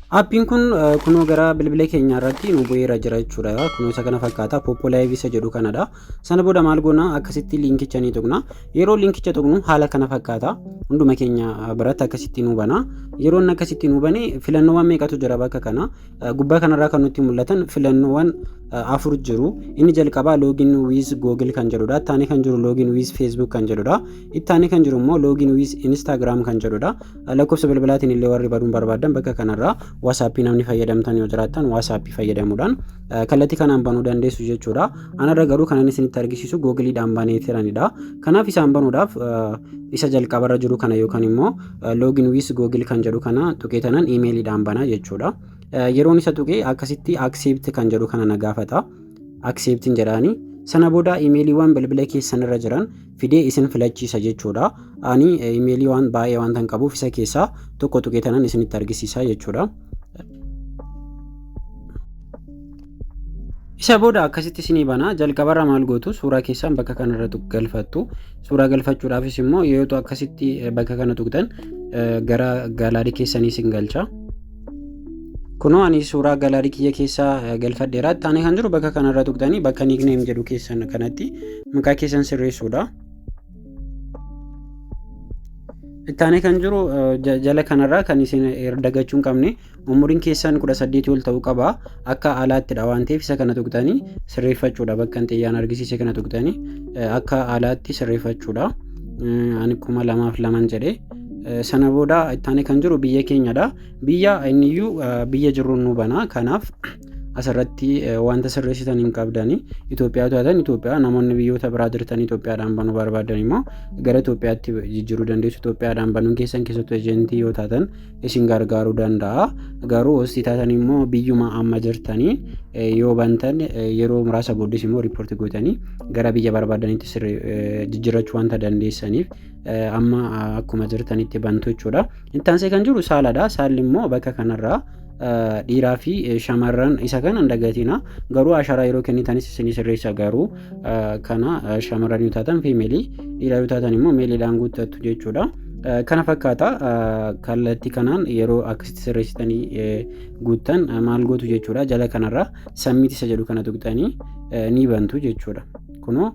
Appiin kun eh, kunoo gara bilbila keenya irratti nu bu'eera jira jechuudha. Kunoo isa kana fakkaata. Popo Live isa jedhu kanadha. Sana booda maal goona akkasitti liinkicha ni tuqna. Yeroo liinkicha tuqnu haala kana fakkaata. Hunduma keenya eh, biratti akkasitti nu bana. Yeroo inni akkasitti nu bane filannoowwan meeqatu jira bakka kana. Eh, Gubbaa kanarraa kan nutti mul'atan filannoowwan eh, afur jiru. Inni jalqabaa login with google kan jedhudha. Ittaanee kan jiru login with facebook kan jedhudha. Ittaanee kan jiru immoo login with instagram kan jedhudha. Lakkoofsa bilbilaatiin illee warri baduun barbaadan bakka kanarraa WhatsApp namni fayyadamtan yoo jiraattan WhatsApp fayyadamuudhaan kallattii kanaan banuu dandeessu jechuudha. Anarra garuu kanan isinitti argisiisu googiliidhaan banee tiranidha. Kanaaf isaan banuudhaaf isa jalqabarra jiru kana yookaan immoo login with google kan jedhu kana tuqee tanan imeeliidhaan banaa jechuudha. Yeroon isa tuqee akkasitti accept kan jedhu kana na gaafata. Acceptin jedhaani. Sana booda imeeliiwwan bilbila keessanirra jiran fidee isin filachiisa jechuudha. Ani imeelii waan baay'ee waan tan qabuuf isa keessaa tokko tuqee tanan isinitti argisiisa jechuudha. Isa booda akkasitti isinii bana jalqabarra maal gootu suuraa keessan bakka kanarra galfattu suuraa galfachuudhaafis immoo yoo akkasitti bakka kana tuqxan gara gaalaarii keessanii isin galcha. Kunoo ani suuraa galaarii kiyya keessaa galfadheera. Itti aanee kan jiru bakka kanarra tuqxanii bakka nickname jedhu keessan kanatti maqaa keessan sirreessuudha. Itti aanee kan jiru jala kanarraa kan isin dagachuu hin qabne umuriin keessan kudha saddeetii ol ta'uu qaba. Akka alaattidha waan ta'eef isa kana tuqxanii sirreeffachuudha. Bakka hin xiyyaan argisiise kana tuqxanii akka alaatti sirreeffachuudha. Ani kuma lamaaf laman jedhee. Sana booda ittaanee kan jiru biyya keenyadha. Biyya inniyyuu biyya jirruun nu bana. Kanaaf asirratti wanta sirreessitan hin qabdani. Itoophiyaa taatan Itoophiyaa namoonni biyyoota biraa jirtan Itoophiyaadhaan banuu barbaadan immoo gara Itoophiyaatti jijjiiruu dandeessu. Itoophiyaadhaan banuun keessan keessattuu ejentii yoo taatan isin gargaaruu danda'a. Garuu hostii taatan immoo biyyuma amma jirtanii yoo bantan yeroo muraasa booddees immoo riippoortii gootanii gara biyya barbaadanitti jijjiirrachuu wanta dandeessaniif amma akkuma jirtanitti bantu jechuudha. Itti aansee kan jiru saaladha. Saalli immoo bakka kanarraa dhiiraa fi shamarran isa kana hin dagatina. Garuu asharaa yeroo kennitanis isin sirreessa garuu kana shamarran yoo taatan fiimeelii dhiiraa yoo taatan immoo meeliidhaan guuttattu jechuudha. Kana fakkaata kallattii kanaan yeroo akkasitti sirreessitanii guuttan maal gootu jechuudha. Jala kanarraa sammiit isa jedhu kana tuqxanii ni bantu jechuudha. Kunoo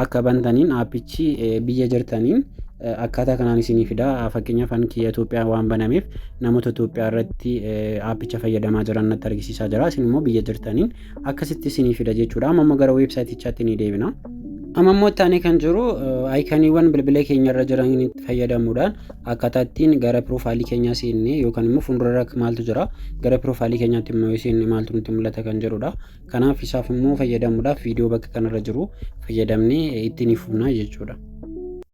akka bantaniin aappichi biyya jirtaniin akkaataa kanaan isinii fida. Fakkeenyaaf ani kiyya Itoophiyaa waan banameef namoota Itoophiyaa irratti aappicha fayyadamaa jiran natti argisiisaa jira. Isin immoo biyya jirtaniin akkasitti isinii fida jechuudha. Amma immoo gara weebsaayitichaatti ni deebina. Amma immoo itti aanee kan jiru ayikaniiwwan bilbila keenya irra jiranitti fayyadamuudhaan akkaataa ittiin gara piroofaayilii keenyaa seennee yookaan immoo fuuldura irra maaltu jira gara piroofaayilii keenyaatti immoo yoo seenne maaltu nutti mul'ata kan jedhudha. Kanaaf isaaf immoo fayyadamuudhaaf viidiyoo bakka kanarra jiru fayyadamnee ittiin fufnaa jechuudha.